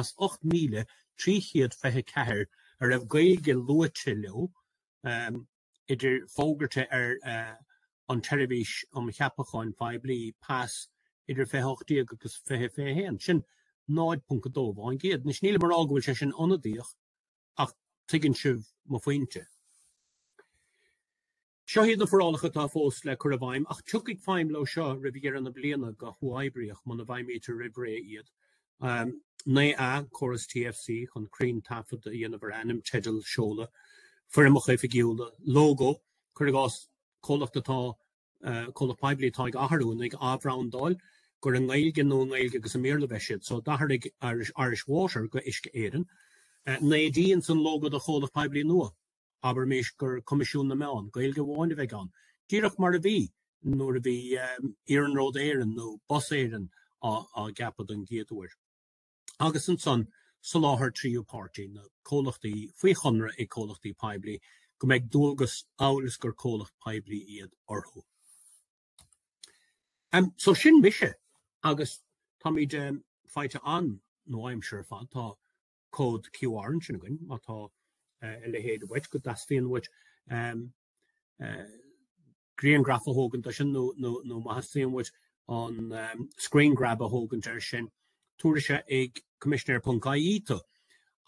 as 8,324 a raibh Gaeilge luaite leo, um, idir fógartha ar an tSeirbhís um Cheapacháin Phoiblí, PAS, idir 20 18 agus 20 21, sin 0.2 fán gcéad. Anois, nílim ag rá go bhfuil sé sin ionadaíoch ach tuigeann sibh mo phointe. Seo iad na forálacha atá fós le cur i bhfeidhm ach tiocfaidh feidhm leo seo roimh dheireadh na bliana go huathoibríoch muna bhfeidhmítear roimh ré iad. 9A, Córas TFC chun cruinntaifead a dhéanamh ar ainm, teideal, seoladh, foirmeacha oifigiúla, lógó, cuir i gcás, comhlacht atá, comhlacht poiblí atá ag athrú nó ag athbhrandáil, gur i nGaeilge nó i nGaeilge agus i mBéarla a bheidh siad. So, d'athraigh Irish Water go Uisce Éireann. 9D, Ins an lógó do chomhlacht poiblí nua, Abraimis gur Coimisiún na Meán, Gaeilge amháin a bheidh ann, díreach mar a bhí nuair a bhí Iarnród Éireann nó Bus Éireann á gceapadh don gcéad uair. Agus ansan soláthar tríú páirtí, na comhlachtaí faoi chonradh ag comhlachtaí poiblí, go mbeidh dualgas, amhail is gur comhlacht poiblí iad, orthu. So sin mise agus táimid faighte an, nó aimsir ar fad, tá. cód QR ansin againn má tá eh, a leithéid uait go dteastaíonn uait um, eh, griangraf a thógaint do sin nó, nó, nó má theastaíonn uait an um, screen grab a thógaint ar sin tabharfaidh sé ag coimisinéir.ie tú.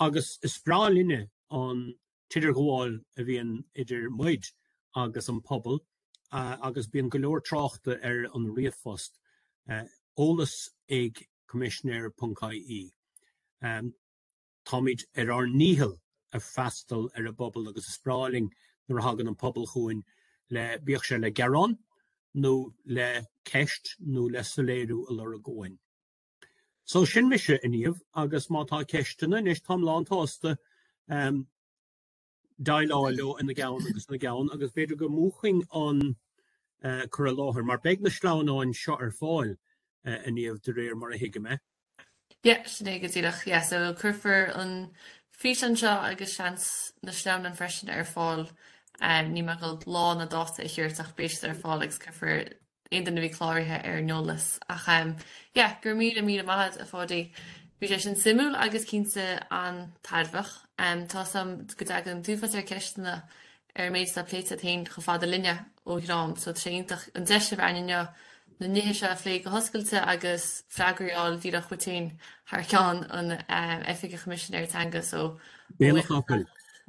Agus is breá linne an t-idirghabháil a bhíonn idir muid agus an pobal agus bíonn go leor tráchta ar an ríomhphost, eolas ag coimisinéir.ie. Táimid ar ár ndícheall ag freastal ar an bpobal agus is breá linn nuair a thagann an pobal chugainn le, bíodh sé le gearán nó le ceist nó le soiléiriú a lorg uainn. So sin mise inniu agus má tá ceisteanna anois táim lántsásta déileáil leo ina gceann agus ina gceann agus b'fhéidir go múchfainn an cur i láthair mar beidh na sleamhnáin seo ar fáil inniu de réir mar a thuigim, eh? Yeah, sin é go díreach, yeah. So cuirfear an físeán seo agus seans na sleamhnáin freisin ar fáil, níl mé ag goil lá ná dáta a thabhairt ach beidh siad ar fáil agus cuirfear aon duine a bhí cláraithe ar an eolas ach yeah go raibh míle míle maith agat a Pháidí. Bhí sé sin suimiúil agus cinnte an-tairbheach. Tá a fhios agam go dtagann an t-uafás ar cheisteanna ar an méid atá pléite agat féin chomh fada linne ó am go ham so tá sé iontach an deis a bheith againn inniu na nithe seo a phlé go hoscailte agus freagraí a fháil díreach uait féin thar ceann Oifig an Choimisinéara Teanga so ó bhéal an chapaill.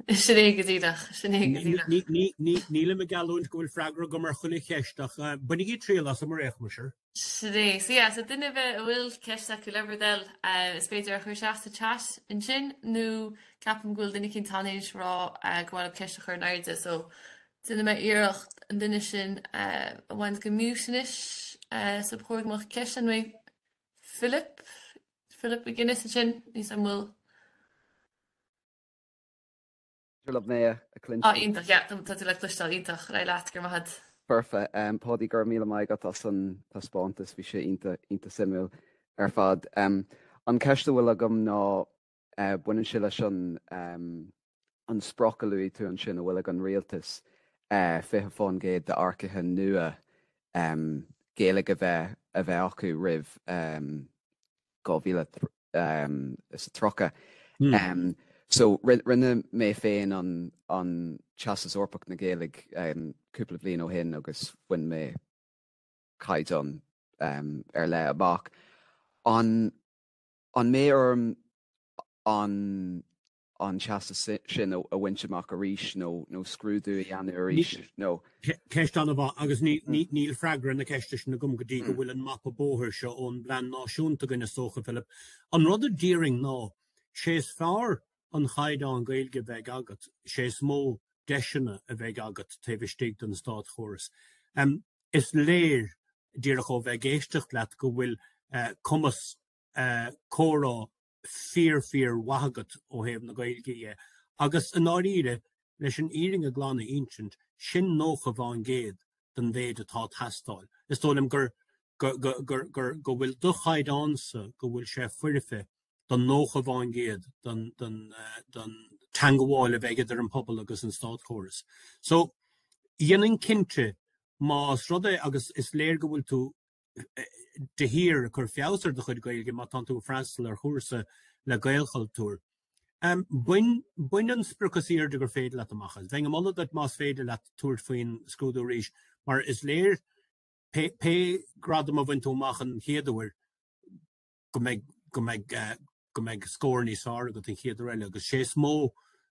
Sin é go díreach, sin é go díreach. Nílim ag geallúint go bhfuil freagra agam ar chuile cheist ach bainigí triail asam ar aon chuma, sure. Sin é. So yeah, so duine ar bith a bhfuil ceist acu le bhur dtoil, eh, is féidir a chur isteach sa chat ansin nó ceapaim go bhfuil duine éicint tar éis a rá eh, go bhfuil ceist a chur in airde so déanfaidh mé iarracht an duine sin eh, a bhaint de mute anois eh, so ba chóir go mbeadh ceist ann eh Philip Philip McGuinness ansin níl a fhios an bhfuil féidir libh mé a chloisint. Ah iontach, yeah, tá tú le cloisteáil iontach, ar aghaidh leat, go raibh maith agat. Perfect. Em Páidí go raibh míle maith agat as an taispeántas, bhí sé iontach, iontach suimiúil ar fad. Em An ceist a bhfuil agam ná eh baineann sé leis an em an sprioc a luaigh tú ansin a bhfuil ag an Rialtas eh 20% d'earcaithe nua em Gaeilge a bheith a bheith acu roimh em 2030. So rinne mé féin an Teastas Eorpach na Gaeilge cúpla bliain ó shin agus bhain mé caighdeán ar leith amach. An mbeidh orm an an teastas sin a bhaint amach arís nó scrúdú a dhéanamh arís nó. Ceist an-mhaith agus níl freagra ar na ceiste sin agam go dtí go bhfuil an mapa bóthair seo ón bPlean Náisiúnta againn, a Socha Philip. An rud a déarfainn ná, sé is fearr an caighdeán Gaeilge a bheidh agat, sé is mó deiseanna a bheidh agat taobh istigh den státchóras. Is léir díreach ó bheith ag éisteacht leat go bhfuil cumas comhrá fíor fíor mhaith agat ó thaobh na Gaeilge de agus i ndáiríre, leis an fhírinne glan a insint, sin nócha faoin gcéad den mhéid atá ag teastáil. Is dóigh liom gur, go, go, gur, gur, go bhfuil do chaighdeánsa, go bhfuil sé foirfe do nócha faoin gcéad den, den, den teangabháil a bheidh idir an pobal agus an státchóras. So, dhéanfainn cinnte, más rud é agus is léir go bhfuil tú, de shíor, ag cur feabhais ar do chuid Gaeilge má tánn tú ag freastal ar chúrsa le Gaelchultúr. Bain an sprioc is airde gur féidir leat amach as. Bheinn ag moladh duit más féidir leat tabhairt faoin scrúdú arís mar is léir, pé gradam a bhain tú amach an chéad uair, go mbeidh scór níos fearr agat an chéad uair eile agus sé is mó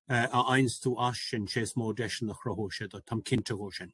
a fhaigheanns tú as sin, sé is mó deiseanna a chruthóidh sé duit, táim cinnte de sin.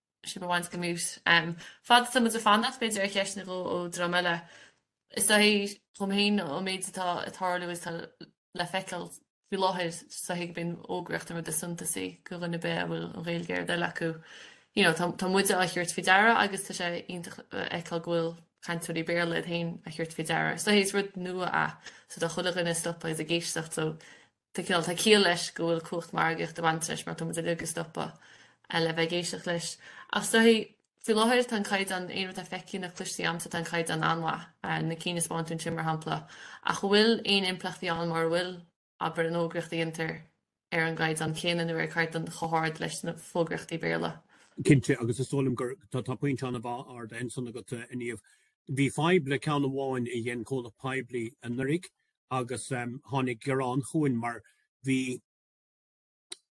ship a want to come out. Em fad atá muid ag fanacht b'fhéidir ar cheist nó dhó ó dhream eile. Is dóichí dhom féin an méid atá ag tarlú is atá le feiceáil faoi láthair. Is dóichí go mbíonn fógraíocht an rud is suntasaí do dhuine ar bith a bhfuil an Ghaeilge ar a dtoil acu. You know tá tá muide á thabhairt faoi deara agus tá sé iontach a fheiceáil go bhfuil cainteoirí Béarla iad féin á thabhairt faoi deara. So is rud nua é so tá chuile dhuine ag stopadh is ag éisteacht so Tá ciall, tá ciall leis go bhfuil cumhacht margaíochta ag baint leis mar tá muid uilig ag stopadh le bheith ag éisteacht leis. Ach is dóichí, faoi láthair tá an caighdeán, aon rud atá feicthe nó cloiste agamsa tá an caighdeán an-mhaith, na cinn a thaispeáin tú ansin mar shampla, ach an bhfuil aon impleachtaí ann mura bhfuil, abair, an fhógraíocht a dhéantar ar an gcaighdeán céanna nó ar chaighdeán chomh hard leis na fógraíochtaí Béarla? Cinnte, agus is dóigh liom gur tá pointe an-mhaith ardaithe ansin agat, a Niamh. Bhí fadhb le ceann amháin a dhein comhlacht poiblí anuraidh agus tháinig gearán chugainn mar bhí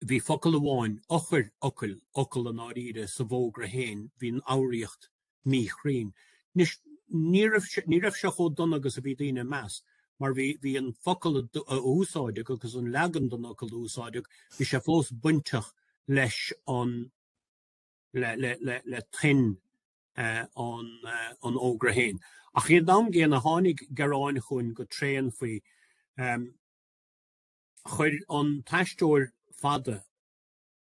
bhí focal amháin, eochairfhocal, fhocal i ndáiríre, sa bhfógra féin, bhí an fhoghraíocht míchruinn. Anois, ní raibh ní raibh sé chomh dona agus a bhí daoine ag meas mar bhí bhí an focal a úsáideadh agus an leagan den fhocal a úsáideadh, bhí sé fós bainteach leis an le le le le tuin an fhógra féin. Ach ag an am gcéanna, tháinig gearáin chugainn go tréan faoi, chuir an t-aisteoir fada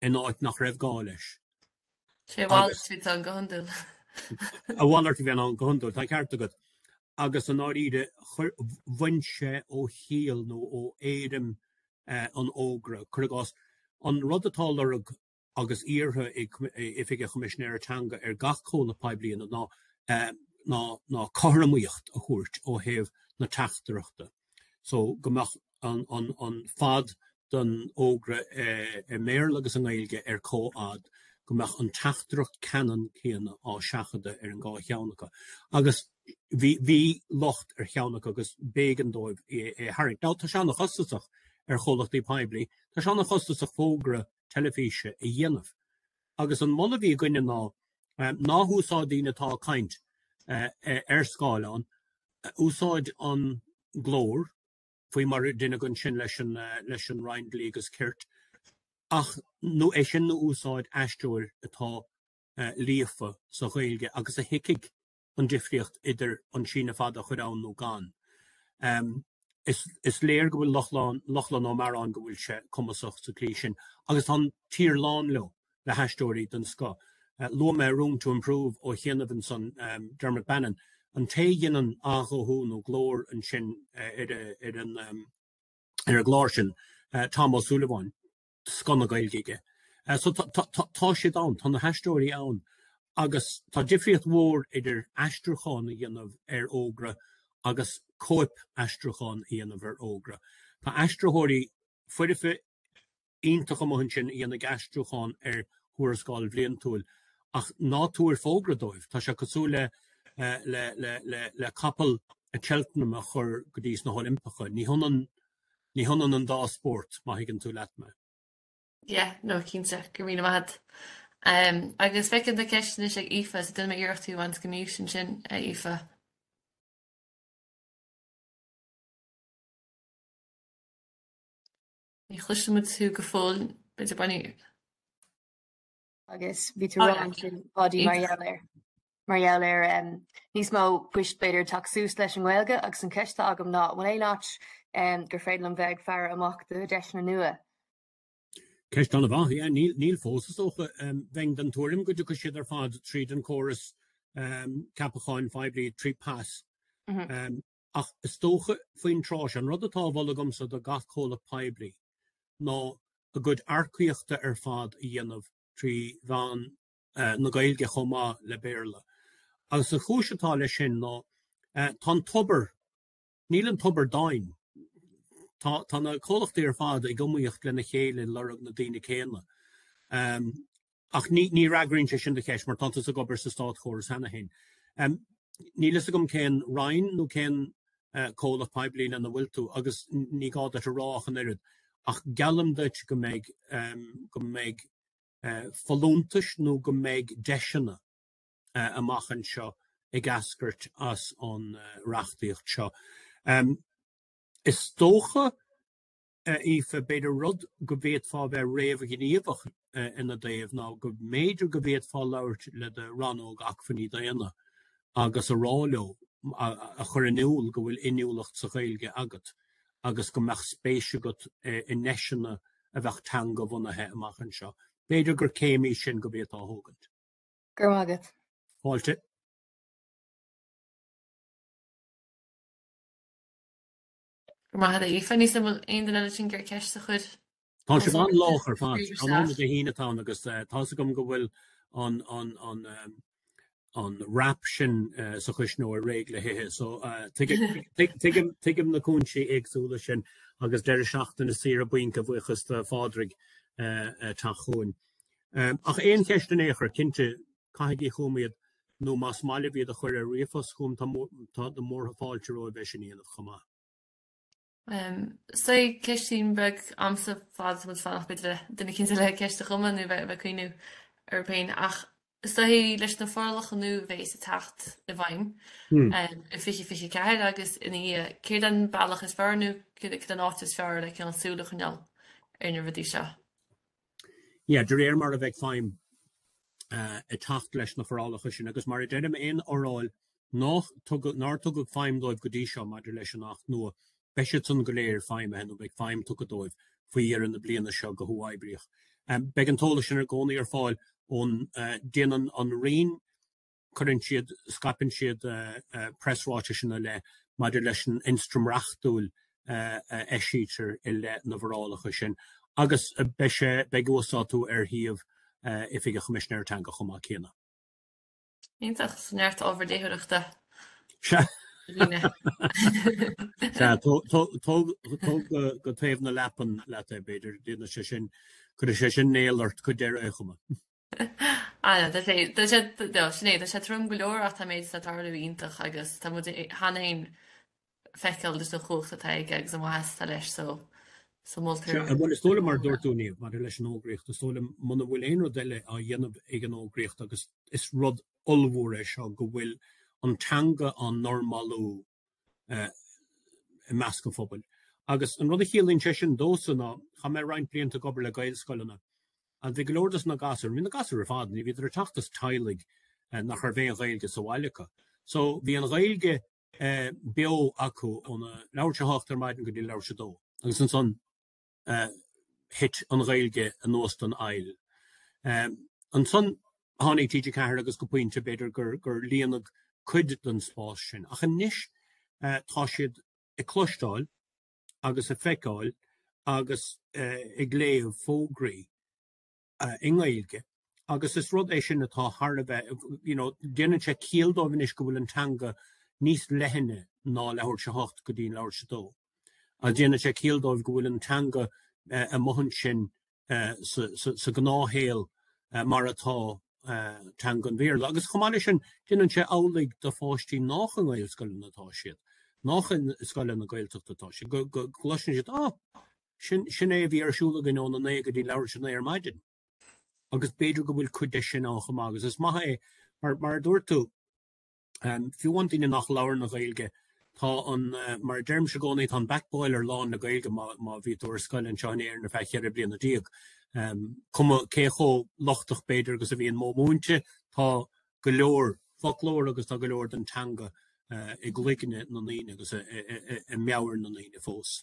in áit nach raibh gá leis. Sé a mhalairt a bhí ann go hiondúil. A mhalairt a bhí ann go hiondúil, tá an ceart agat. Agus i ndáiríre, bhain sé ó chiall nó ó éirim an fhógra, cuir i gcás, an rud atá á lorg agus iarrtha ag Oifig an Choimisinéara Teanga ar gach comhlacht poiblí ná cothromaíocht a thabhairt ó thaobh na teachtaireachta so go mbeadh an fad den fhógra i mBéarla agus i nGaeilge ar comhfhad, go mbeadh an teachtaireacht ceannann céanna á seachadadh ar an dhá cheann acu. Agus bhí locht ar cheann acu agus b'éigean dóibh é a tharraingt. Now tá sé an-chostasach ar chomhlachtaí poiblí, tá sé an-chostasach fógra a teilifíse a dhéanamh. Agus an moladh a bhí againne ná húsáid daoine atá ag caint ar scáileán, úsáid an glór, faoi mar a deineadh ansin leis an leis an Roinn Dlí agus Cirt, ach nó é sin nó úsáid aisteoir atá líofa sa Ghaeilge agus a thuigfidh an difríocht idir an síneadh fada a chur ann nó gan. Is léir go bhfuil Lochlainn Ó Mearáin, go bhfuil sé cumasach sa tslí sin agus tá an tír lán leo, le haisteoirí den scoth. Luaigh mé Room to Improve ó chianaibh ansan, Dermot Bannon, an té a dhéanann athghuthú nó glór ansin ar an ar an gclár sin, Tom Ó Súilleabháin. scoth na Gaeilge aige. So tá siad ann, tá na haisteoirí ann agus tá difríocht mhór idir aistriúchán a dhéanamh ar fhógra agus cóip aistriúcháin a dhéanamh ar fhógra. Tá aistritheoirí foirfe iontach amuigh ansin a dhéanfaidh aistriúchán ar thuarascáil bhliantúil ach ná tabhair fógra dóibh, tá sé cosúil le capall Cheltenham a chur go dtís na hOilimpeacha, ní hionann Ní hionann an dá spórt, má thuigeann tú leat mé. Yeah, no, cinnte. Go raibh míle maith agat. Em, agus feicim do cheist anois, a Aoife, so déanfaidh mé iarracht thú a bhaint aníos ansin, a Aoife. Ní chloisimid thú go fóill, b'fhéidir bainfidh. Agus bhí tú rá ansin, a Pháidí, mar gheall ar, mar gheall ar um, níos mó poist b'fhéidir ag teacht suas leis an nGaeilge agus an ceist agam ná an bhfuil aon áit um, gur féidir liom bheith ag faire amach do dheiseanna nua. Ceist an-mhaith, yeah, níl fós is dócha um, bheinn den tuairim go dtiocfaidh siad ar fad tríd an córas um, ceapacháin phoiblí trí PAS. Mm -hmm. um, Ach is dócha faoin tráth seo, an rud atá á mholadh agamsa do gach comhlacht poiblí ná a gcuid earcaíochta ar fad a dhéanamh trí mheán na Gaeilge chomh maith le Béarla. Agus an chúis atá leis sin ná tá an tobar, níl an tobar domhain. Tá tá na comhlachtaí ar fad ag iomaíocht lena chéile ag lorg na daoine céanna. Ach ní fhreagraíonn sé sin do cheist, mar tánn tusa ag obair sa státchóras cheana féin. Níl a fhios agam cén Roinn nó cén comhlacht poiblí lena bhfuil tú, agus ní gá duit a rá ach an oiread, ach geallaim duit go mbeidh, go mbeidh folúntais nó go mbeidh deiseanna amach anseo ag eascairt as an reachtaíocht seo. Is dócha. Aoife, B'fhéidir rud go bhféadfá a bheith réamhghníomhach ina dtaobh ná go mb'fhéidir go bhféadfá labhairt le do Rannóg Acmhainní Daonna agus a rá leo, a chur in iúl go bhfuil inniúlacht sa Ghaeilge agat agus go mbeadh spéis agat i ndeiseanna a bheadh teangabhunaithe amach anseo. B'fhéidir gur céim í sin go bhféadfá a thógaint. Go raibh maith agat. Fáilte. Go raibh maith agat, Aoife. Níl a fhios agam an bhfuil aon duine eile ansin ag iarraidh ceist a chur. Tá sibh an-lách ar fad. Tráthnóna Dé hAoine atá ann agus eh, tá a fhios agam go bhfuil an, an, an, um, an rap sin uh, sa chuisneoir réidh le hithe. So uh, tuigim na cúinsí éagsúla sin agus deireadh seachtaine saoire bainc a bhuíochas do Phádraig uh, uh, ag teacht chugainn. Um, ach aon cheist in aon chor, cinnte, caithigí chugam iad nó más maith libh iad a chur ar ríomhphost chugam tá tá na múrtha fáilte romhaibh é sin a dhéanamh chomh maith. So, ceistín beag agamsa fad is atá muid ag fanacht b'fhéidir ar dhuine eicínt eile ceist a chumadh nó bheith bheith ag cuimhneamh air féin ach is dóichí leis na forálacha nua a bhéas ag teacht i bhfeidhm i 2024 agus ina dhiaidh céard an bealach is fearr nó céard céard an áit is fearr le cineál súl a choinneáil ar na rudaí seo. yeah, de réir mar a bheidh feidhm uh, ag teacht leis na forálacha sin agus mar a deirim aon fhoráil nár tugadh nár tugadh feidhm dóibh go dtí seo maidir leis an Acht nua beidh siad san go léir feidhmithe nó beidh feidhm tugtha dóibh faoi dheireadh na bliana seo go huathoibríoch. Um, beidh an t-eolas sin i gcónaí ar fáil ón uh, déanann an Roinn cuireann siad, scaipeann siad preasráitis ina leith maidir leis an ionstraim reachtúil a eisítear i leith na bhforálacha sin agus beidh sé, beidh uasdátú ar shuíomh Oifig an Choimisinéara Teanga chomh maith céanna. Iontach, so neart ábhar léitheoireachta ar líne. Sea, tóg go taobh na leapan leat é b'fhéidir, déanfaidh sé sin, cuirfidh sé sin néal ort go deireadh an chuma. Anna, Tá sé, tá sé, do, sin é, tá sé trom go leor ach tá an méid atá ag tarlú iontach agus tá muid i- cheana fhéin feiceáil leis an chumhacht atá aige agus an mhaith atá leis so, so Sea, moltar bhuel is dóigh liom mar a dúirt tú, Niamh, maidir leis an fhógraíocht, is dóigh liom muna bhfuil aon rud eile á dhéanamh ag an fhógraíocht agus is rud ollmhór é seo go bhfuil an teanga á normalú i measc an phobail. Agus an rud a chiallaíonn sé sin domhsa ná chaith mé roinnt blianta ag obair le Gaelscoileanna agus bhí go leor de na gasúir, bhí na gasúir ar fad, ní bhíodar ag teacht as teaghlaigh nach raibh aon Ghaeilge sa bhaile acu. So bhí an Ghaeilge beo acu óna leathuair tar éis a hocht ar maidin go dtí leathuair tar éis a dó agus ansan. thit an Ghaeilge anuas den aill. Ansan tháinig TG4 agus go pointe b'fhéidir gur líonadh cuid den spás sin. Ach anois tá siad ag cloisteáil agus ag feiceáil agus ag léamh fógraí. i nGaeilge agus is rud é sin atá thar a bheith, you know, déanann sé ciall dóibh anois go bhfuil an teanga níos leithne ná leathuair tar éis a hocht go dtí leathuair tar éis a dó. Agus déanann sé ciall dóibh go bhfuil an teanga ag maireachtaint sa ghnáthshaol mar atá teanga an Bhéarla. Agus chomh maith leis sin, déanann sé amhlaidh do pháistí nách i nGaelscoileanna atá siad, nách i scoileanna Gaeltachta atá siad, go gcloiseann siad, oh, Sin, sin é a bhí ar siúl againn óna naoi go dtí leathuair tar éis a naoi ar maidin. Agus b'fhéidir go bhfuil cuid de sin ann chomh maith. Agus is maith é, mar, mar a dúirt tú, ehm, fiú an duine nach labhrann Gaeilge, tá an, eh, mar a deirimse i gcónaí, tá an back boiler lán le Gaeilge má, má bhí tú ar scoil anseo in Éirinn ar feadh cheithre bliana déag. Ehm, cuma cé chomh lochtach, b'fhéidir, agus a bhíonn modh múinte, tá go leor foclóir agus tá go leor den teanga, eh, i gcloigne na ndaoine agus i, i, i, i, i meabhair na ndaoine fós.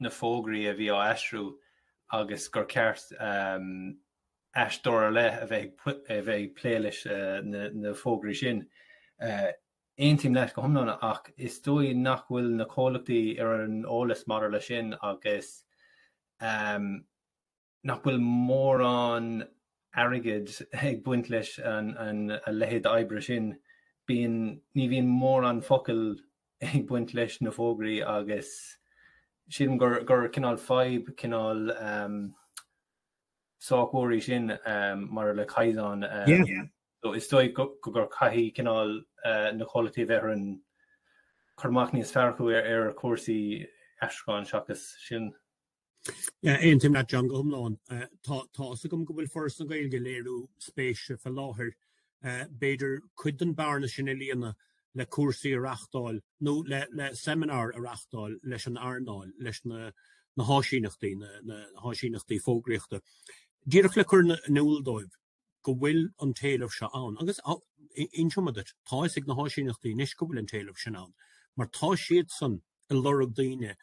na fógraí a bhí á aistriú agus gur cheart aistritheoir ar leith a bheith ag plé leis na fógraí sin. Aontaím leat go hiomlán ach is dóigh nach bhfuil na comhlachtaí ar an eolas maidir leis sin agus nach bhfuil mórán airgid ag baint leis an a leithéid oibre sin, bíonn, ní bhíonn mórán focal ag baint leis na fógraí agus sílim gur gur cineál fadhb cineál ehm sách mhór í sin ehm mar le caighdeán ehm so is dóigh go gur caithfidh cineál eh, na comhlachtaí bheith ar an, cur amach níos fearr acu ar, ar chúrsaí aistriúcháin seachas sin. Aontaím leat John go hiomlán. Tá áthas agam go bhfuil Foras na Gaeilge ag léiriú spéise fé láthair. B'fhéidir cuid den bhearna sin a líonadh le cúrsaí a reachtáil nó le seimineáir a reachtáil leis an earnáil, leis na háisíneachtaí, na háisíneachtaí fógraíochta, díreach le cur in iúl dóibh, go bhfuil an t-éileamh seo ann agus inseoidh mé duit, tá fhios ag na háisíneachtaí anois go bhfuil an t-éileamh sin ann mar tá siadsan ag lorg daoine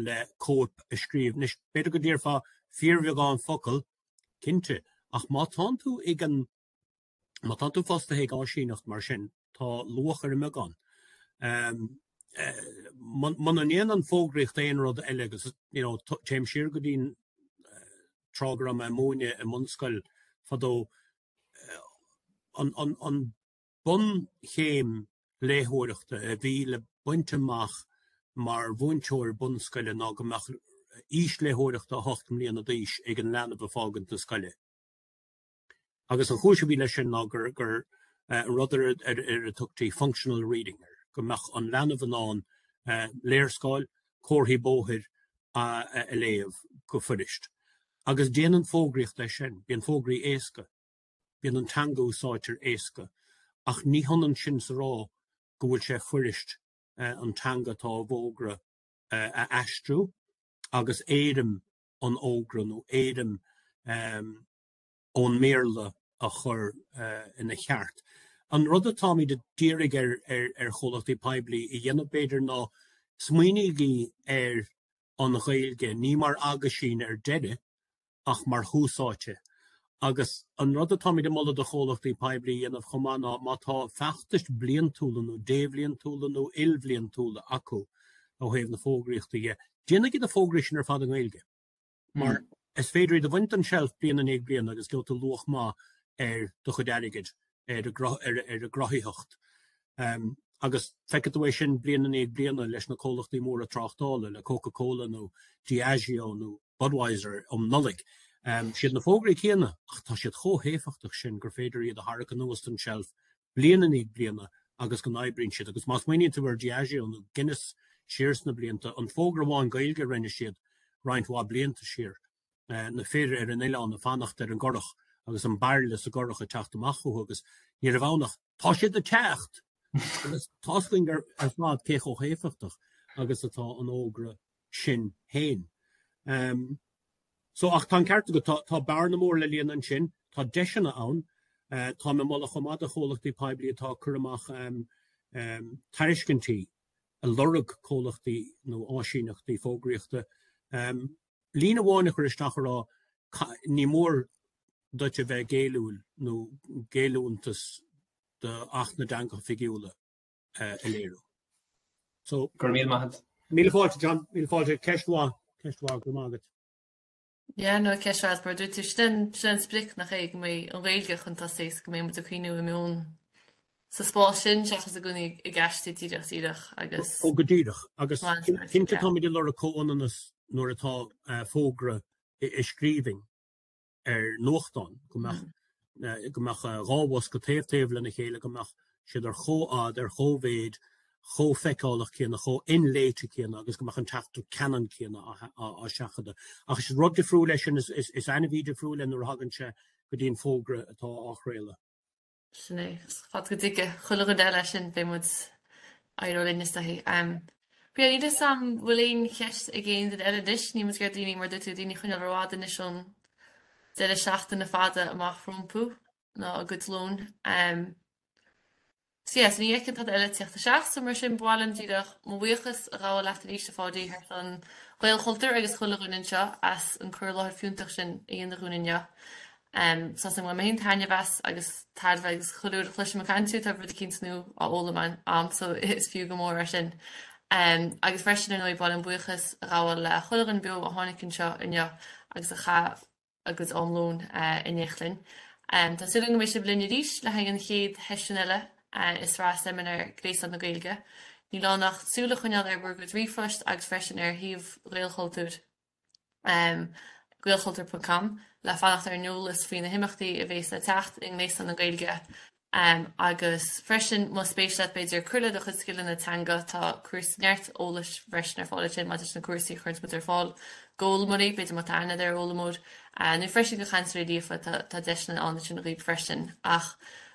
le cóip a scríobh. Anois, b'fhéidir go ndéarfá fíorbheagán focal, cinnte, ach má tánn tú ag an. má tánn tú fostaithe ag áisíneacht mar sin, Tá luach ar an mbeagán. Muna ndéanann an fógraíocht aon rud eile agus, you know, téim siar go dtí'n tráth go raibh mé ag múineadh i mbunscoil fadó, an bun-chéim léitheoireachta a bhí le baint amach mar mhúinteoir bunscoile ná go mbeadh aois léitheoireachta 8 mbliana d'aois ag an leanbh ag fágaint na scoile. agus an chúis a bhí leis sin ná gur rud ar a dtugtaí functional reading air, go mbeadh an leanbh in ann léarscáil, comharthaí bóthair a léamh go fuirist. Agus déanann fógraíocht leis sin, bíonn fógraí éasca, bíonn an teanga a úsáidtear éasca, ach ní hionann sin is a rá go bhfuil sé fuirist an teanga atá i bhfógra a aistriú agus éirim an fhógra nó éirim an ón mBéarla a chur ina cheart. An rud atáimid a d'iarraidh ar chomhlachtaí poiblí a dhéanamh, b'fhéidir, ná smaoinígí ar an Ghaeilge, ní mar aguisín ar deireadh, ach mar thús áite. Agus an rud atáimid ag moladh do chomhlachtaí poiblí a dhéanamh chomh maith ná má tá feachtais bliantúla nó débhliantúla nó ilbhliantúla acu ó thaobh na fógraíochta dhe, déanaigí na fógraí sin ar fad i nGaeilge. Mar is féidir iad a bhaint den tseilf bliain i ndiaidh bliana agus gheobhaidh tú luach maith ar do chuid airgid, ar an gcruthaitheacht. Agus feicfidh tú é sin bliain i ndiaidh bliana leis na comhlachtaí móra tráchtála, le Coca Cola nó Diageo nó Budweiser um Nollaig. Siad na fógraí céanna ach tá siad chomh héifeachtach sin gur féidir iad a tharrac anuas den tseilf bliain i ndiaidh bliana agus go n-oibríonn siad, agus má smaoiníonn tú ar Diageo nó Guinness siar sna blianta, an fógra amháin Gaeilge a rinne siad roinnt mhaith blianta siar, na fir ar an oileán ag fanacht ar an gcurach agus an bairille sa gcurach ag teacht amach chucu agus ní raibh ann ach 'Tá siad ag teacht! Agus tá's againn ar fad cé chomh héifeachtach agus atá an fógra sin féin. So, ach tá an ceart agat, tá, tá bearna mór le líonadh ansin, tá deiseanna ann, tá mé ag moladh chomh maith do chomhlachtaí poiblí atá ag cur amach tairiscintí a lorg comhlachtaí nó áisíneachtaí fógraíochta líne amháin a chur isteach a rá ní mór duit a bheith géilliúil nó géilliúntas do Acht na dTeangacha Oifigiúla. a léiriú. So, Go raibh míle maith agat. Míle fáilte, John. Míle fáilte. Ceist mhaith. Ceist mhaith. Go raibh maith agat. Yeah, no, ceist mhaith, mar a dúirt tú, sin an, sin an sprioc, nach é, go mbeidh an Ghaeilge chun tosaigh is go mbeidh muid ag coinneáil an mheoin sa spás sin seachas i gcónaí ag, ag aistriú díreach, díreach agus Ó, go díreach. Agus cinnte táimid ag lorg comhionannas nuair atá eh, fógra i, i scríbhinn. ar nuachtán go mbeadh dhá bhosca taobh taobh lena chéile go mbeadh siad ar chomhfhad, ar chomhmhéid, chomh feiceálach céanna, chomh inléite céanna agus go mbeadh an teachtaireacht ceannann céanna á seachadadh. Ach is rud difriúil é sin, is ainmhí difriúil é nuair a thagann sé go dtí an fógra atá á chraoladh. Sin é. Fad go dtige. Chuile dhuine eile sin beidh muid éireoidh linn is dóichí. Em, níl a fhios a'm an bhfuil aon cheist ag aon duine eile anois, níl muid ag iarraidh daoine, mar a dúirt tú, daoine a choinneáil rófhada anois ón deireadh seachtaine fada amach rompu, ná a gcuid lóin. Em, So yeah, so ní fheicim tada eile ag tíocht isteach, so mar sin ba mhaith liom díreach mo bhuíochas a ghabháil leat arís a Pháidí thar ceann Ghaelchultúir agus chuile dhuine anseo as an cur i láthair fiúntach sin a dhéanamh dúinn inniu. Tá a fhios a'm gur bhain mé an- taitneamh as agus tairbhe agus chuile uair a chloisim ag caint thú tá rud eicínt nua á fhoghlaim a'm so is fiú go mór é sin. Agus freisin ar ndóigh ba mhaith liom buíochas a ghabháil le chuile dhuine beo a tháinig anseo inniu agus a chaith a gcuid am lóin in éineacht linn. Tá súil agam go mbeidh sibh linn arís le haghaidh an chéad sheisiún eile i sraith seimineár Ghréasán na Gaeilge. Níl ann ach súil a choinneáil ar bhur gcuid ríomhphost agus freisin ar shuíomh Ghaelchultúir. gaelchultúr ponc com le fanacht ar an eolas faoi na himeachtaí a bhéas le teacht i nGréasán na Gaeilge agus freisin más spéis leat b'fhéidir cur le do chuid scileanna teanga tá cúrsaí neart eolais freisin ar fáil ansin maidir leis na cúrsaí a chuireanns muid ar fáil d'fhoghlaimeoirí, b'fhéidir má tá aithne agat ar fhoghlaimeoir nó freisin do chainteoirí líofa tá deiseanna ann ansin dhaoibh freisin ach